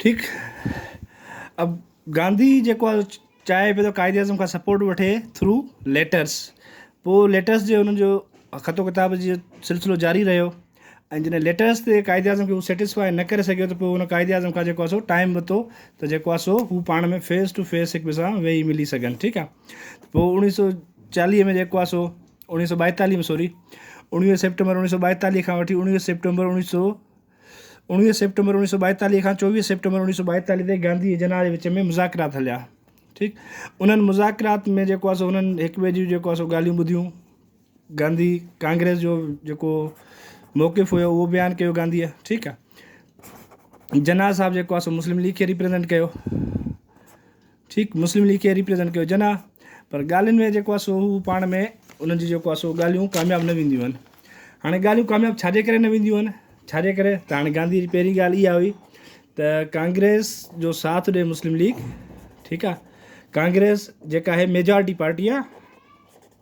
ٺيڪ اب گانڌي جيڪو آ چاهي پيو ته قائد اعظم کان سپورٽ وٺي ٿرو ليٽرس پوء ليٽرس جي انهن جو خط و ڪتاب جي سلسلو جاري رهيو ۽ جڏهن ليٽرس تي قائد اعظم کي هو سيٽسفائي نه ڪري سگهيو ته پوء هن قائد اعظم کان جيڪو آ سو ٽائيم ورتو ته جيڪو آ سو هو پاڻ ۾ فيس ٽو فيس هڪ ٻئي سان ويهي ملي سگهن ٺيڪ آ ته پوء اوڻيهه سو چاليهه ۾ جيڪو آ سو اوڻيهه سو ٻائيتاليهه ۾ سوري اوڻيهه سيپٽمبر اوڻيهه سو ٻائيتاليهه کان وٺي اوڻيهه سيپٽمبر اوڻيهه سو اڻويهه سيپٽمبر اوڻيهه سؤ ٻائيتاليهه کان چوويهه سيپٽمبر اوڻيهه سؤ ٻائيتاليهه تائين گانڌي ۽ جناح جي وچ ۾ مذاڪرات هليا ٺيڪ انهن مذاڪرات ۾ جيڪو آسو انهن هڪ ٻئي جون جيڪو آسو ڳالهيون ٻڌيون گانڌي ڪانگريس جو جيڪو موقف هيو اهو بيان ڪيو گانڌيء ٺيڪ آ جناح صاحب جيڪو آسو مسلم ليگ کي ريپريزينٽ ڪيو ٺيڪ مسلم ليگ کي ريپريزنٽ ڪيو جناح پر ڳالهين ۾ جيڪو آهي سو هو پاڻ ۾ انهن جي جيڪو آهي سو ڳالهيون ڪامياب نه وينديون آهن هاڻي ڳالهيون ڪامياب ڇا جي ڪري نه وينديون آهن ڇا جي ڪري ته هاڻي گانڌي جي پهرين ڳالهه اها هئي ته ڪانگريس جو ساٿ ڏي مسلم ليگ ٺيڪ آهي ڪانگريس جيڪا آهي ميجارٽي پارٽي آهي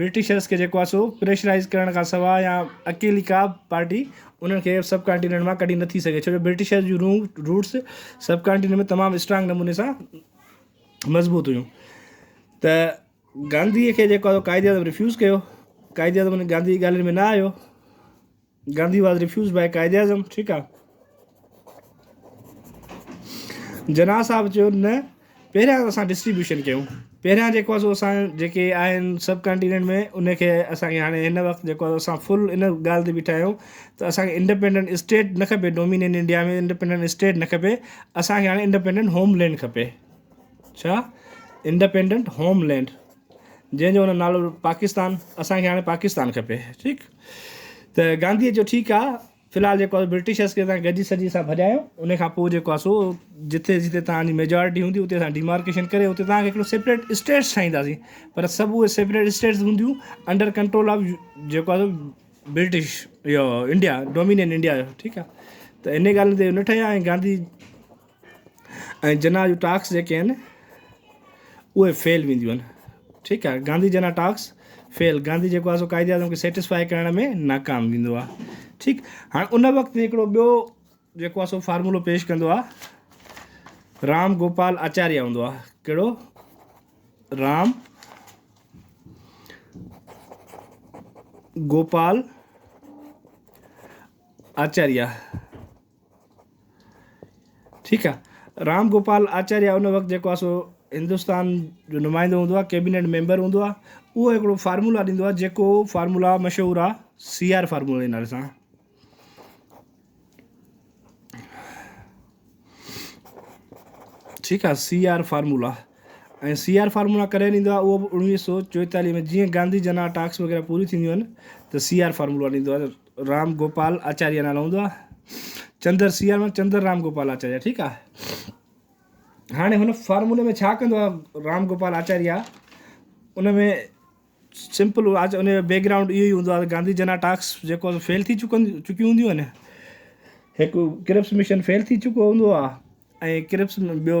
برٽشرز کي جيڪو آهي سو پريشرائيز ڪرڻ کان سواء يا اڪيلي ڪا به پارٽي انهن کي سب ڪانٽيننٽ مان ڪڍي نٿي سگهي ڇو جو برٽشرز جون روٽ روٽس سب ڪانٽيننٽ ۾ تمام اسٽرانگ نموني سان مضبوط هيون ته گانڌيء کي جيڪو آهي قائد اعظم ريفيوز ڪيو قائد اعظم گانڌي جي ڳالهين ۾ نه آيو Gandhi was refused by Quaid Azam ٺيڪ آ. جناح صاحب چيو نه پهريان اسان ڊسٽريبيوشن ڪيون پهريان جيڪو آ سو اسان جيڪي آهن سب ڪانٽيننٽ ۾ ان کي اسان کي هاڻي هن وقت جيڪو آ اسان فل ان ڳالهه تي بيٺا آهيون ته اسان کي انڊيپينڊنٽ اسٽيٽ نه کپي ڊومينين انڊيا ۾ انڊيپينڊنٽ اسٽيٽ نه کپي اسان کي هاڻي انڊيپينڊنٽ هوم لينڊ کپي ڇا انڊيپينڊنٽ هوم لينڊ جنهن جو هن نالو پاڪستان اسان کي هاڻي پاڪستان کپي ٺيڪ ته گانڌي جو ٺيڪ آ في الحال جيڪو آ برٽشرس کي اسان گڏجي سڏجي اسان ڀڄايو ان کان پوء جيڪو آ سو جتي جتي تهان جي ميجارٽي هوندي اتي اسان ڊيمارڪيشن ڪري اتي تهان کي هڪڙو سيپريٽ اسٽيٽس ٺاهينداسين پر سڀ اهي سيپريٽ اسٽيٽس هونديون انڊر ڪنٽرول آف جيڪو آ برٽش اهو انڊيا ڊومينين انڊيا جو ٺيڪ آ ته ان ڳالهين تي نه ٺهيا ۽ گانڌي ۽ جناح جون ٽاڪس جيڪي آهن اهي فيل وينديون آهن ٺيڪ آهي گانڌي جناح ٽاڪس فيل گانڌي جيڪو آهي سو قائد اعظم کي سيٽسفائي ڪرڻ ۾ ناڪام ويندو آهي ٺيڪ هاڻي ان وقت هڪڙو ٻيو جيڪو آهي سو فارمولو پيش ڪندو آهي رام گوپال آچاريا هوندو آهي ڪهڙو رام گوپال آچاريا ٺيڪ آ. رام گوپال آچاريا ان وقت جيڪو آ سو هندستان جو نمائندو هوندو آ ڪيبينيٽ ميمبر هوندو آ اهو هڪڙو فارمولا ڏيندو آ جيڪو فارمولا مشهور آ سي آر فارمولا جي نالي سان ٺيڪ آ C R formula ۽ C R formula ڪڏهن ڏيندو آ اهو به اوڻويهه سو چوئيتاليهه ۾ جيئن گانڌي جنا ٽاڪس وغيره پوري ٿينديون آهن ته سي آر فارمولا ڏيندو آ رام گوپال آچاريا نالو هوندو آ چندر سيار مان چندر رام گوپال آچاريا ٺيڪ آ هاڻي هن فارمولي ۾ ڇا ڪندو آ رام گوپال آچاريا ان ۾ سمپل آج ان جو بيڪ گرائونڊ اهو ئي هوندو آ گانڌي جنا ٽاڪس جيڪو فيل ٿي چڪن چڪيون هونديون آهن هڪ ڪرپس مشن فيل ٿي چڪو هوندو آ ۽ ڪرپس ٻيو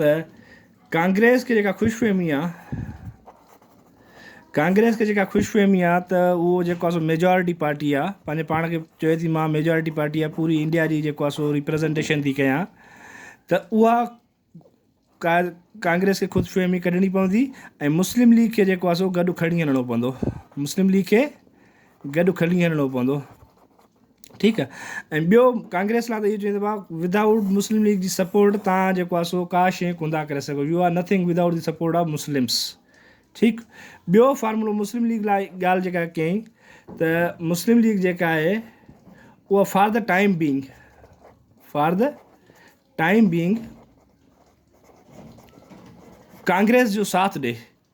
ته ڪانگريس کي جيڪا خوش فهمي آ ڪانگريس کي جيڪا خوش فهمي آ ته اهو جيڪو آ سو ميجارٽي پارٽي آ پنهنجي پاڻ کي چوي ٿي مان ميجارٽي پارٽي آ پوري انڊيا جي جيڪو آ سو ريپريزنٽيشن ٿي ڪيان ته اها ڪا ڪانگريس کي خود فهمي ڪڍڻي پوندي ۽ مسلم ليگ کي جيڪو آ سو گڏ کڻي هلڻو پوندو مسلم ليگ کي گڏ کڻي هلڻو پوندو ٺيڪ آ ۽ ٻيو ڪانگريس لا ته اهو چئي سگهبو آ وڌ آئوٽ مسلم ليگ جي سپورٽ تان جيڪو آ سو ڪا شيء ڪوندا ڪري سگهو you are nothing without the support of Muslims ٺيڪ ٻيو فارمولو مسلم ليگ لا ڳالهه جيڪا ڪيائين ته مسلم ليگ جيڪا آهي اها for the time being for the time being Congress جو ساٿ ڏي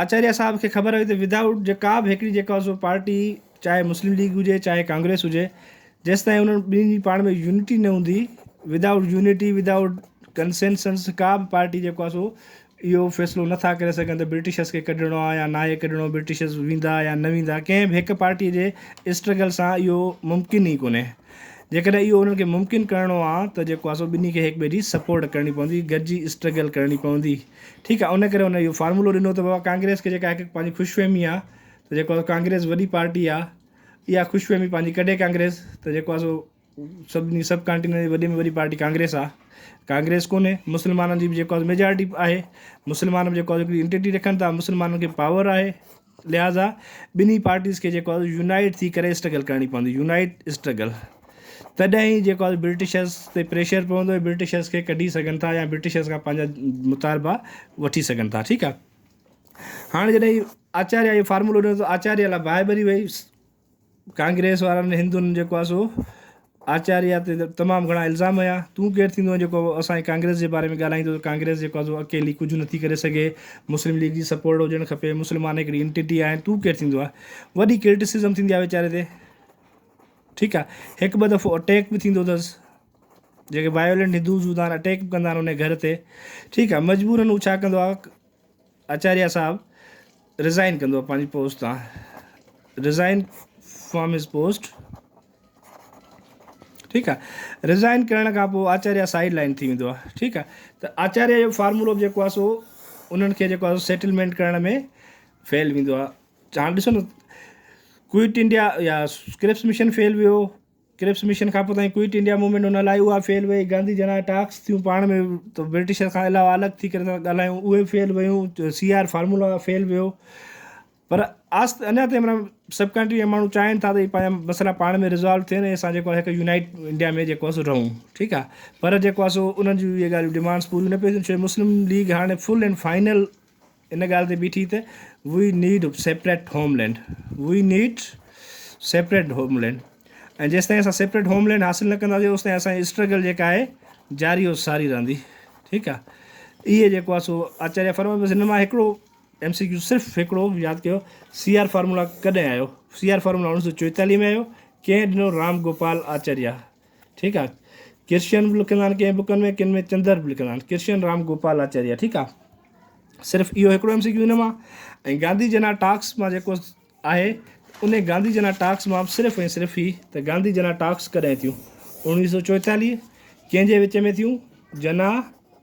آچاريا صاحب کي خبر هئي ته وڌ آئوٽ جي ڪا به هڪڙي جيڪا سو پارٽي چاهي مسلم ليگ هجي چاهي ڪانگريس هجي جيستائين انهن ٻنهين جي پاڻ ۾ يونٽي نه هوندي without unity without consensus ڪا به پارٽي جيڪو آهي سو اهو فيصلو نه ٿا ڪري سگهن ته برٽشرس کي ڪڍڻو آهي يا ناهي ڪڍڻو برٽشرس ويندا يا نه ويندا ڪنهن به هڪ پارٽي جي اسٽرگل سان اهو ممڪن ئي ڪونهي جيڪڏهن اهو انهن کي ممڪن ڪرڻو آهي ته جيڪو آهي سو ٻنهي کي هڪ ٻئي جي سپورٽ ڪرڻي پوندي گڏجي اسٽرگل ڪرڻي پوندي. ٺيڪ آهي ان ڪري هن اهو فارمولو ڏنو ته بابا ڪانگريس کي جيڪا هڪ پنهنجي خوش فهمي آهي ته جيڪو آهي ڪانگريس وڏي پارٽي آهي اها خوش فهمي پنهنجي ڪڍي ڪانگريس ته جيڪو آهي سو سڀني سڀ ڪانٽينٽ جي وڏي ۾ وڏي پارٽي ڪانگريس آهي ڪانگريس ڪونهي مسلمانن جي به جيڪو آهي سو ميجارٽي آهي مسلمان به جيڪو آهي سو هڪڙي انٽيٽي رکن ٿا مسلمانن کي پاور آهي لهٰذا ٻنهي پارٽيز کي جيڪو آهي يونائيٽ ٿي ڪري اسٽرگل ڪرڻي پوندي يونائيٽ اسٽرگل تڏهن ئي جيڪو آهي برٽشرز تي پريشر پوندو ۽ برٽشرز کي ڪڍي سگهن ٿا يا برٽشرز کان پنهنجا مطالبا وٺي سگهن ٿا ٺيڪ آهي هاڻي جڏهن آچاريا اهو فارمولو ڏنو ته آچاريا لاء باهه ٻري وئي ڪانگريس وارن هندن جيڪو آهي سو آچاريا تي تمام گهڻا الزام هنيا تون ڪير ٿيندو آهين جيڪو اسان جي ڪانگريس جي باري ۾ ڳالهائيندو ته ڪانگريس جيڪو آهي سو اڪيلي ڪجهه نه ٿي ڪري سگهي مسلم ليگ جي سپورٽ هجڻ کپي مسلمان هڪڙي انٽيٽي آهن تون ڪير ٿيندو آهي وڏي ڪرٽيسزم ٿيندي آهي ويچاري تي ٺيڪ آهي هڪ ٻه دفعو اٽيڪ به ٿيندو اٿس جيڪي وائولنٽ هندوز هوندا آهن اٽيڪ به ڪندا آهن ان گهر تي ٺيڪ آهي مجبورن هو ڇا ڪندو آهي آچاريا صاحب رزائن ڪندو پنهنجي پوسٽ تان رزائن فرام هز پوسٽ ٺيڪ آ رزائن ڪرڻ کان پوء آچاريا سائيڊ لائن ٿي ويندو آ ٺيڪ آ ته آچاريا جو فارمولو به جيڪو آ سو انهن کي جيڪو آ سيٽلمينٽ ڪرڻ ۾ فيل ويندو آ هاڻ ڏسو نه ڪوئٽ انڊيا يا ڪرپس مشن فيل ويو ڪرپس مشن کانپوء تائين ڪوئٽ انڊيا موومينٽ ان لاء اها فيل وئي گانڌي جن آء ٽاڪس ٿيون پاڻ ۾ ته برٽشر کان علاوه الڳ ٿي ڪري ٿا ڳالهايون اهي فيل ويون سي آر فارمولا فيل ويو پر آست اڃا تائين منا سب ڪنٽري جا ماڻهو چاهين ٿا ته پنهنجا مسئلا پاڻ ۾ رزالو ٿين ۽ اسان جيڪو هڪ يونائيٽ انڊيا ۾ جيڪو اسو رهون ٺيڪ آ پر جيڪو اسو انهن جون اهي ڳالهيون ڊيمانڊس پوريون نه پيون ٿين ڇو جو مسلم ليگ هاڻي فل اينڊ فائنل ان ڳالهه تي بيٺي ته we need separate homeland we need separate homeland ۽ جيستائين اسان سيپريٽ هوم لينڊ حاصل نه ڪنداسين اوستائين اسان جي اسٽرگل جيڪا آهي جاري و ساري رهندي ٺيڪ آهي اهي جيڪو آهي سو آچاريا فرما بس هن مان هڪڙو ايم سي ڪيو صرف هڪڙو ياد ڪيو سي آر فارمولا ڪڏهن آيو سي آر فارمولا اوڻيهه سو چويتاليهه ۾ آيو ڪنهن ڏنو رام گوپال آچاريا ٺيڪ آ ڪرشن به لکندا آهن ڪنهن بڪن ۾ ڪن ۾ چندر به لکندا آهن ڪرشن رام گوپال آچاريا ٺيڪ آ صرف اهو هڪڙو ايم سي ڪيو هن مان ۽ گانڌي جنا ٽاڪس مان جيڪو آهي ان گانڌي جنا ٽاڪس مان صرف ۽ صرف هي ته گانڌي جنا ٽاڪس ڪڏهن ٿيون اوڻيهه سو چوئيتاليهه ڪنهن جي وچ ۾ ٿيون جنا